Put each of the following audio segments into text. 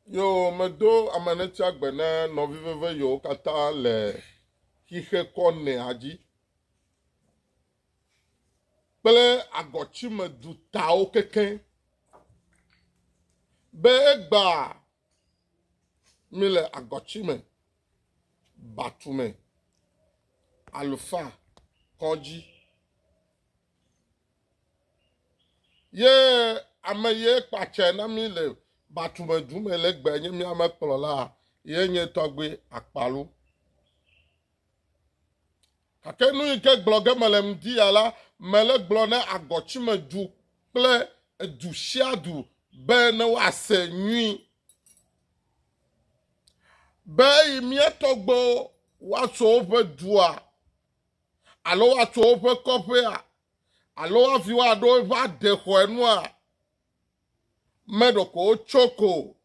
Yo medo amanetsia gbe na nɔvi veve yewo katã le xixe kɔ nɛa dzi kple agɔtsime dutawo keke be egba mi le agɔtsime batume alufa kɔdzi. Ye ame ye kpatse na mí le Batume du me le gbe nye mía me kplɔla ye nye tɔgbe akpalo. Gake nu yi ke gblɔ ge mele ŋdi ya la, mele gblɔ ne agɔtsime du kple edu sia du be ne woase nyui. Be eyi mía tɔgbewo woatso woƒe dua alo woatso woƒe kɔƒea, alo hafi woaɖo eƒe adexɔe nua, me ɖeko wotso ko o.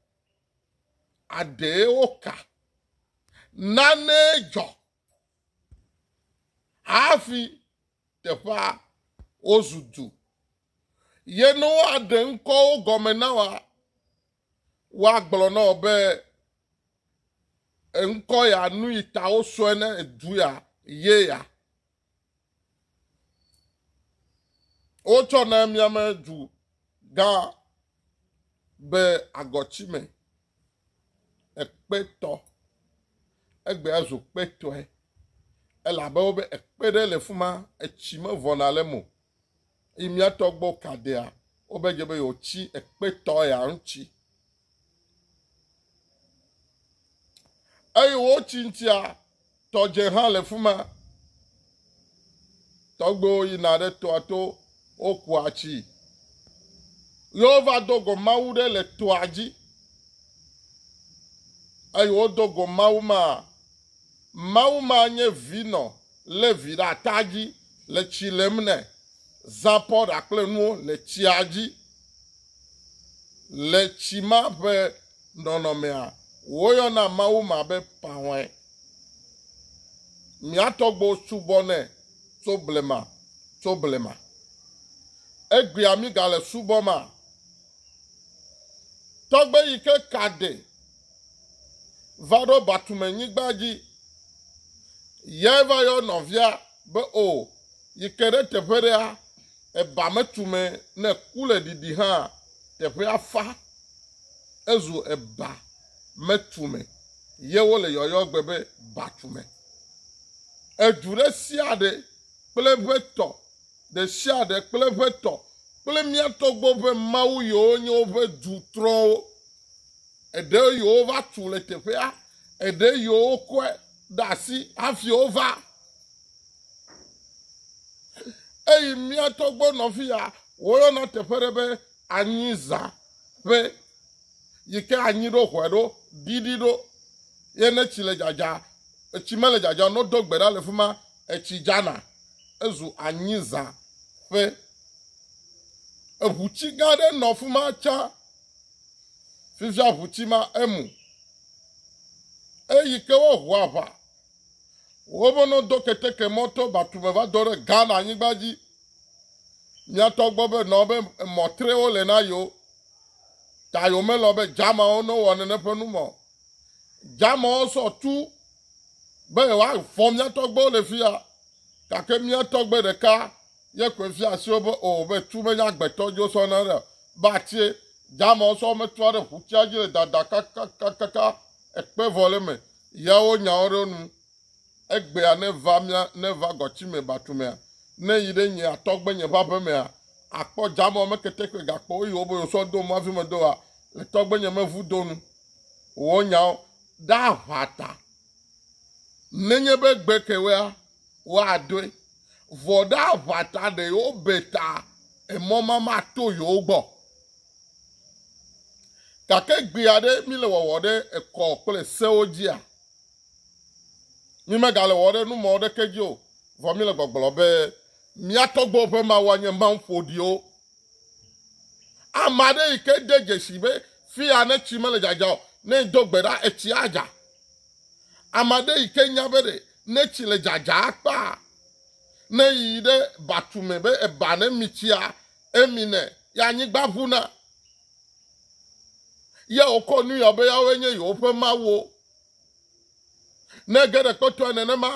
Aɖee woka. Nane dzɔ hafi teƒea wozu du. Ye ne woaɖe ŋkɔwo gɔme na woa, Woagblɔ na wò be, Ŋkɔ ya nuyi ta wosɔe ne du ya ye ya. Wotsɔ na miame du gã be agɔtsi me ekpetɔ. Egbe azu kpetɔe. Elabe wobe ekpe ɖe le fuma, etsi mevɔna le eme o. Yi mía tɔgbɔ kadea, wobe dze be yeotsi ekpetɔ ya ŋutsi. Eye wotsi ŋutsia, tɔdze hã le fuma. Tɔgbewo yina ɖe toa to, wokua tsi. Yehova do go Mawu ɖe le toa dzi. Eye wodo go Mawu ma, Mawu ma nye vinɔ lé vi ɖe ata dzi le tsi lém nɛ, zã pɔ ɖa kple nuwo le tsia dzi. Le tsi ma ƒe nɔnɔmea, woyɔna Mawu ma be Pahɔe. Mía tɔgbuiwo subɔnɛ tso blema tso blema. Egbea mígale subɔmaa? Tɔgbe yi ke ka ɖe va ɖo Batumenyigba dzi. Yae va yɔ nɔvia be o, yi ke ɖe teƒe ɖea, eba metu me ne ku le ɖiɖi hã, teƒea fa, ezu eba metu me, ye wole yɔyɔ gbe be Batume. Edu ɖe sia ɖe kple eƒe tɔ, ɖe sia ɖe kple eƒe tɔ, kple mía tɔgbuiwo ƒe Mawu yiwo nye woƒe du trɔ̃wo. Eɖe yewova tu le teƒea, eɖe yewokɔe ɖe asi hafi wova. Eyi mía tɔgbe nɔvia woyɔna teƒe ɖe be anyiza ƒe yi ke anyi ɖo hɔe ɖo ɖiɖi ɖo ye ne tsi le dzadza etsi mele dzadza no do gbe ɖa le fi ma etsi dzana ezu anyiza ƒe eʋutsi gã aɖe nɔ fi ma tsã si zã ʋuti ma emu. Eyi ke woaʋu aʋa. Wova nɔ do keteke mɔ to Batu me va do ɖe Ghana anyigba dzi. Miatɔ gbɔ be nɔ be emɔ trewo le na yewo. Ta yewo melɔ be Germanwo ne wɔ nene ƒe nu mɔ. Germanwo sɔ tu be yewoavɔ miatɔ gbɔwo le fi ya. Gake miatɔ gbe ɖeka ye koe fia asi wo be o be tu menye agbetɔ dzo sɔ na ɖe be atie dama sɔ metua ɖe ʋutia dzi le dada kakakakaka ekpe vɔ le me ya wo nyawo ɖe nu egbea ne va mia ne va gɔtsi me batu mea ne yi ɖe nye atɔgbe nye va be mea akpɔ dama me kete kpe gakpɔ wo yi wo be yo sɔ do mavi me do wa le tɔgbe nye me vu do nu wo nyawo ɖe aʋata nenye be gbe kewea woadoe. Vɔ ɖe aʋa ta ɖe yewobe ta emɔ ma mato yewo gbɔ. Gake gbe aɖe mile wɔwɔ ɖe ekɔ kple sewo dzia? Mímegale wɔwɔ ɖe numɔ ɖeke dzi o, vɔ míle gbɔgblɔ be mía tɔgbewo ƒe Mawu anye Mawu ƒoɖiwo. Ame aɖe yi ke de dzesi be fia ne tsi mele dzadza o, ne do gbe ɖa, etsi adza. Ame aɖe yi ke nya be ɖe Ne tsi le dzadza akpa ne yi ɖe batume be eba ne mi tsia emi ne ya anyigba ʋuna ya wokɔ nu ya be yawo nye yewoƒe mawo ne ge ɖe kpɔtɔe nenema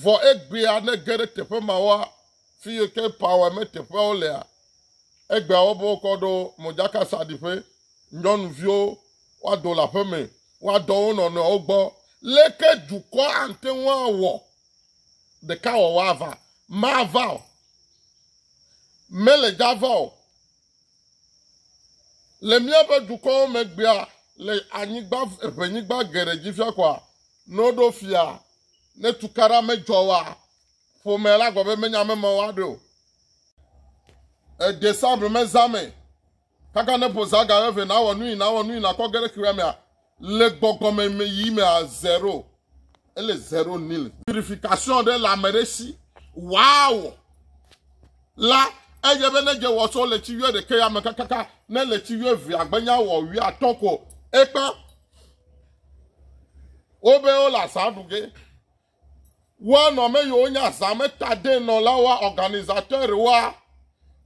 vɔ egbea ne ge ɖe teƒe mawoa fi yi ke power me teƒeawo lea, egbea wobe wokɔ ɖo modzakasaɖiƒe, nyɔnuviwo woado le aƒe me, woadɔ wo nɔnɔewo gbɔ. Leke dukɔ ate ŋu awɔ ɖeka wɔwɔ ava? Mava o. Mele dza va o. Le míaƒe dukɔwo megbea, le anyigba, ʋenyigba geɖe dzi fia koa, ne woɖo fia, ne tukaɖa medzɔ wa, Ƒome la gblɔ be menye ame mawo aɖe o. E Desembre me zã me, kaka ne ƒo zã ga eve nawɔ nu yi nawɔ nu yi nakɔ ge ɖe xexea mea, le gbɔgbɔ me me yi mea zero. Ele zero nil. Purification ɖe le ame ɖe si wòawɔ la edze be ne dze wɔ tso le tsi wuiɖeke ya me kakaka ne le tsi wuievea gbenya wɔ wuiatɔ̃ ko ekpa. Wobe wole azã ɖu ge. Woa nɔ ame yiwo nye azãmetadenɔlawoa, organisateurs-woa,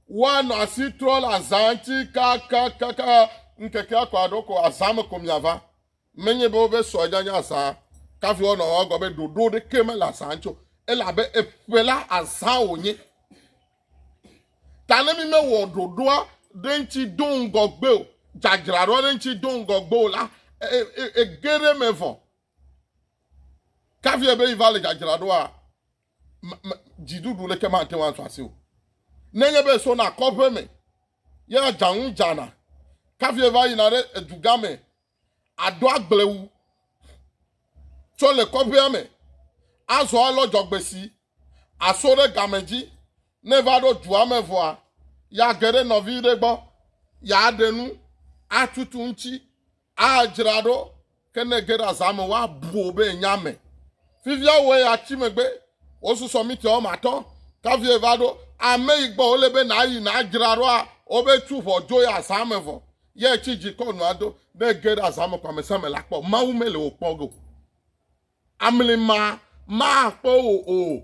woa nɔ asi trɔ le azã ŋuti kakakaka ŋkekea ko aɖo ko azã me ko miava. Menye be woƒe sɔ nya nya azã kafi wonɔ wɔa gɔme be ɖoɖo ɖeke mele azã ŋuti o, elabe eƒe la azã wonye. Ta ne mi mewɔ ɖoɖoa ɖe ŋuti do ŋgɔgbe o, dzadzraɖoa ɖe ŋuti do ŋgɔgbe o la, e, e, e, ege ɖe me vɔ. Kavi ebe yi va le dzadzra ɖoa, me, me, dziɖuɖu leke mate ŋu azɔ asi o. Nenye be sona kɔƒe me, ye adzanu dzana. Kavi eva yina ɖe edugã me aɖo agble wu tsɔ le kɔƒea me azɔ alɔ dzɔgbesi aso ɖe game dzi. Ne va ɖo dua me vɔa, ya ge ɖe nɔvi ɖe gbɔ, ya ɖe nu atutu ŋuti Adzra ɖo ke ne ege ɖe azã me woabu wò be ènye ame. Fifia wò eya tsi megbe wosusɔ mita wɔme atɔ̃ kafi eva ɖo ame yi gbɔ wòle be nàyi nàdzra ɖoa wobe tu ʋɔ dzo ye azã me vɔ ye ètsi dzi kɔ nua do. Ne ege ɖe azã me ko ame sia ame la kpɔ Mawu mele wò kpɔ ge o. Amli ma makpɔ wò o.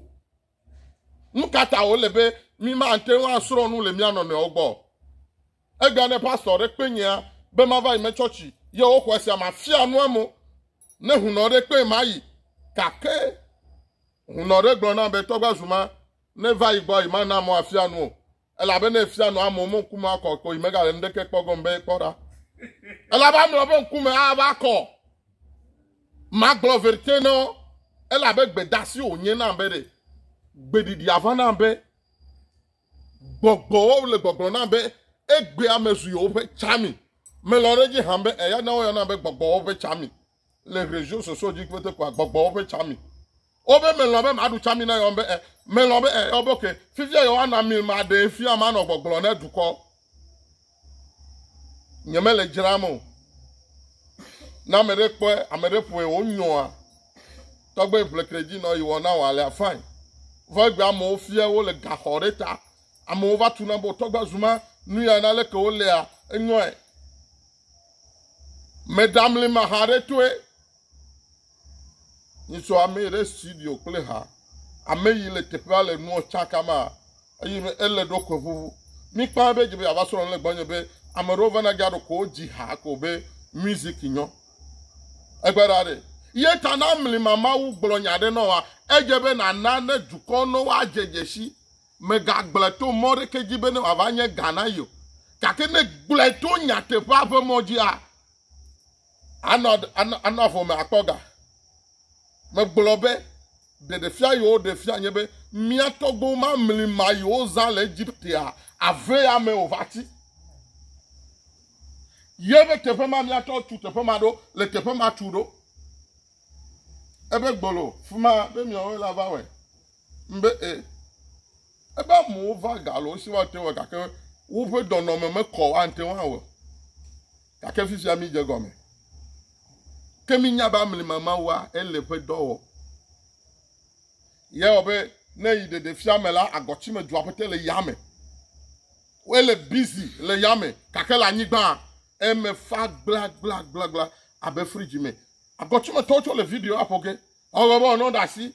Nu ka ta wòle be mímate ŋu asrɔ̃ nu le mía nɔnɔewo gbɔ? Egbea ne pastɔ ɖe kpe nyea be mava yi me tsɔtsi ye woxɔe sia mafia nu amo. Ne hunɔ ɖe kpee mayi. Gake hunɔ ɖe gblɔ nam be tɔgba zuma ne va yi gbɔ yi mana mo afia nu o. Elabena efia nɔ amewo me ŋkume akɔ akɔ yi megale nuɖeke kpɔ gɔme be yekpɔ ɖa. Elabe amewo ƒe ŋkume ava akɔ. Magblɔ verite na wo, elabe gbedasi wònye nam be ɖe gbeɖiɖi ava nam be gbɔgbɔwo le gbɔgblɔ nam be egbea mezu yewoƒe tsami. Melɔ̃ ɖe edzi hã be eya na woyɔna be gbɔgbɔwo ƒe tsami. le Région Soso dzi kpete kɔa gbɔgbɔwo ƒe tsami. Wobe melɔ̃ be maɖu tsami na yewo be e, melɔ̃ be e, wobe ke, fifia yewoana mil maɖee fia manɔ gbɔgblɔ ne dukɔ. Nyemele dzram o. Na ame ɖe kpɔe, ame ɖe ƒoe wonyɔa. Tɔgbe ʋlekre dzi nɔ yi wɔ na wɔ alea fine. Vɔ egbe amewo fia wo le gaxɔ ɖe ta. Amewo va tuna be tɔgbe zuma nu ya na leke wo lea enyɔe. Meɖamlima ha ɖe toe. Nyitsɔ ame ɖe studio kple ha. Ame yi le teƒea le nuɔ tsakama eye me ele ɖo kwe ʋuʋu. Mi kpa be dze be ava srɔ̃ le gbɔnye be ame ɖewo vana dza ɖo ko dzi ha ko be music nyɔ. Egbe ɖa ɖe. Ye ta na mlima Mawu gblɔ nya ɖe nɔ wa. Edze be nana ne dukɔ nɔ wa dze dzesi Mègagblɔe to mɔ ɖeke dzi bene wòava nye ga na ye o, gake ne ègblɔe to nyateƒea ƒe mɔ dzia, anɔ, anɔ, anɔ avɔ me akpɔ ga. Megblɔ be, Ɖeɖefia yewo ɖe fia nye be mía tɔgbewo mamli ma yewo zã le Egiptea avea me o va ti. Ye ƒe teƒe ma miatsɔ tu teƒe ma ɖo le teƒe ma tu ɖo. Ebe gbolo, fi ma be miawoe la va wɔe. Mbe e. Ebe amewo va ga alo esi woate ŋu gake woƒe dɔnɔme mekɔ o ante ŋu awɔ. Gake fi sia mídze gɔme. Ke mínya be amlima Mawua ele ƒe dɔ wɔ. Ye wɔ be ne yi ɖeɖe fia me la, agɔtsime dzua ƒete le yame. Wole busy le yame gake le anyigba eme fa gblagblagblagla abe fridzi me. Agɔtsimetɔwo tsɔ le video aƒo ge. Ewɔ be ɔnɔ ɖe asi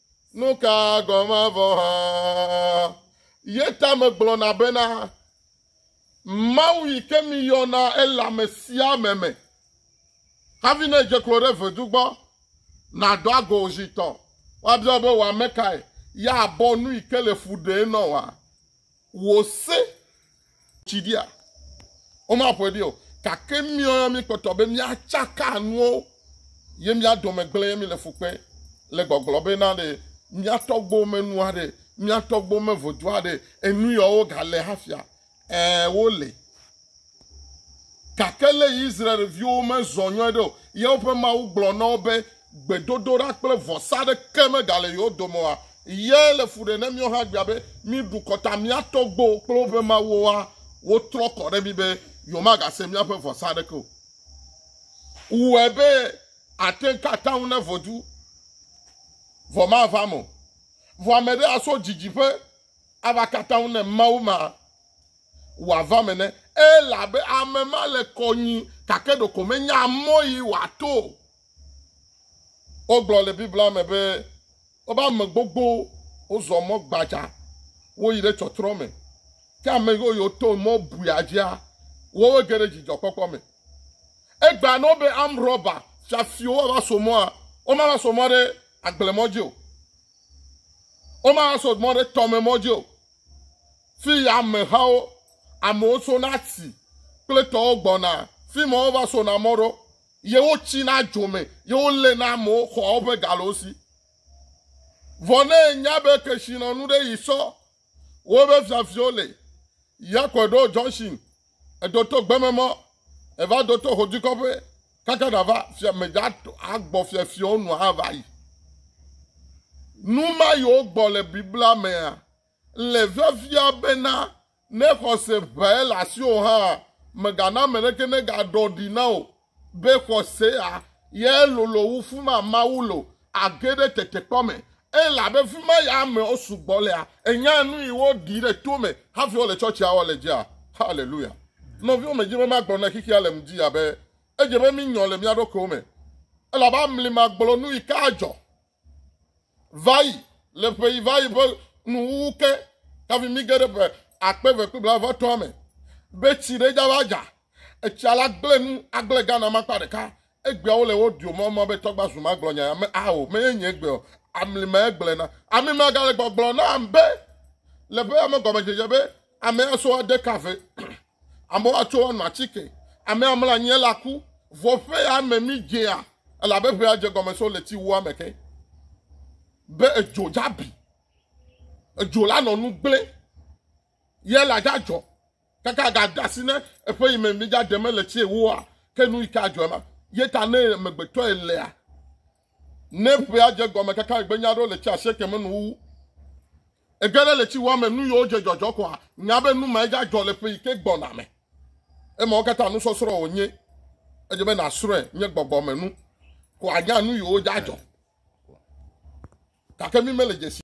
Nu ka gɔme vɔ hã? Ye ta megblɔna bena, Mawu yi ke miyɔna ele ame sia ame me. Hafi ne edze klo ɖe vedu gbɔ, nàdɔ ago zi tɔ, woabia wò be wò ame kae? Ye abɔ nu yi ke le fu ɖee nɔ wòa? Wò se tsi ɖia? Womaƒoe ɖi o. Gake míɔ ya míkpɔtɔ be míatsaka nuwo ye mía dome gblẽ ye míle fu kpem le gbɔgblɔ be na ɖe mía tɔgbuiwo menu aɖe, mía tɔgbuiwo mevo dua ɖe, enu yawo gale hafia? Ɛ̃, wole. Gake ne Israel-viwo mezɔ nyuie ɖe o, ye woƒe Mawu gblɔ na wo be, Gbedodoɖa kple vɔsa aɖeke megale yewo dome oa? Ye le fu ɖem ne míawo hã egbea be, míeɖu kɔ ta mía tɔgbuiwo kple woƒe mawuwoa? Wotrɔ kɔ ɖe mí be, yewomagase míaƒe vɔsa aɖeke o. Wɔe be àte ŋu ka atam ne vodu vɔ mava eme o. Vɔ ame ɖe aso didiƒe ava ka atam ne Mawu ma. wòava eme ne elabe ame ma le kɔ nyui gake ɖeko menya mɔ yi wòato o. Wogblɔ le Biblia me be woƒe ame gbogbo wozɔ mɔ gbadza woyi ɖe tsɔtrɔ me. Ke ame yiwo yiwo to mɔ buia dzia, wowo ge ɖe dzidzɔkpɔkpɔ me. Egbea ne wobe amrɔba fiafiwo woava so mɔa, womava so mɔ ɖe agblemɔ dzi o. Womava so mɔ ɖe tɔmemɔ dzi o. Fi ya amehawo, amewo sona atsi kple tɔwo gbɔna, fi ma wova sona mɔ ɖo, ye wotsina dzo me, ye woléna amewo xɔa woƒe galowo si. Vɔ ne enya be kesinɔnu ɖe yi sɔ woƒe fiafiwo le, ya kɔe ɖo Johnson, edo to gbeme mɔ, eva do to Hodikɔƒe kaka ɖava fia medza agbɔ fiafiwo nu ava yi. Nu ma yi wogbɔ le Biblia mea? Le fiafia bena ne xɔse ʋãe le asiwò hã, mègana ame aɖeke negaɖɔ ɖi na wò be xɔsea yae lolo wu fu ma Mawu le o, àge ɖe tetekpɔ me. Elabe fi ma ya amewo sugbɔ lea, ènya nui woɖi ɖe to me hafi wole tsɔtsia wɔ le edzia. Haleluya! Nɔviwo, medi be magblɔ ne xexea le ŋdi abe edze be mínyɔ le mía ɖokuiwo me, elabe amli magblɔ nuyi ka adzɔ. va yi le ƒe yi va yi ƒe nuwuwu ke hafi mi ge ɖe ƒe akpe eve kple blaeve etɔ̃a me be tsi ɖe dza va dza. Etsia la gblẽ nu agblẽ Ghana ma akpa ɖeka. Egbeawo le wo dio mɔ mɔ be tɔgba zu ma gblɔ nya ya me ao me ye nye egbe o. Amli ma egblẽ na. Ami ma gale gbɔgblɔ na be le ƒe ame gɔmedzedze be ame ya so ade kafe. Amewo atso anɔ atike. Ame amla anyi ele aku. Vɔ ƒe ya me mi dzea elabe ƒe ya dze gɔme so le ti wua me ke. Be edzo dzabi. Edzo la nɔ nu gblẽ. Ye la dzadzɔ. Kaka ga dasi ne eƒe yi me mi dza deme le tsie woa ke nu yi ke adzɔ ma. Ye ta ne megbetɔ elea. Ne ƒe ya dze gɔme kaka egbe nya ɖo le tsi asieke me nu wu. Ege ɖe le tsi wɔ ame nu yiwo dze dzɔdzɔ koa, nya be nu ma edza dzɔ le ƒe yi ke gbɔna me. Emawo katã nusɔsrɔ̃ wònye. Edze be nàsrɔ̃e nye gbɔgbɔ me nu ko ànya nu yiwo dza dzɔ. Gake mi mele dzesi.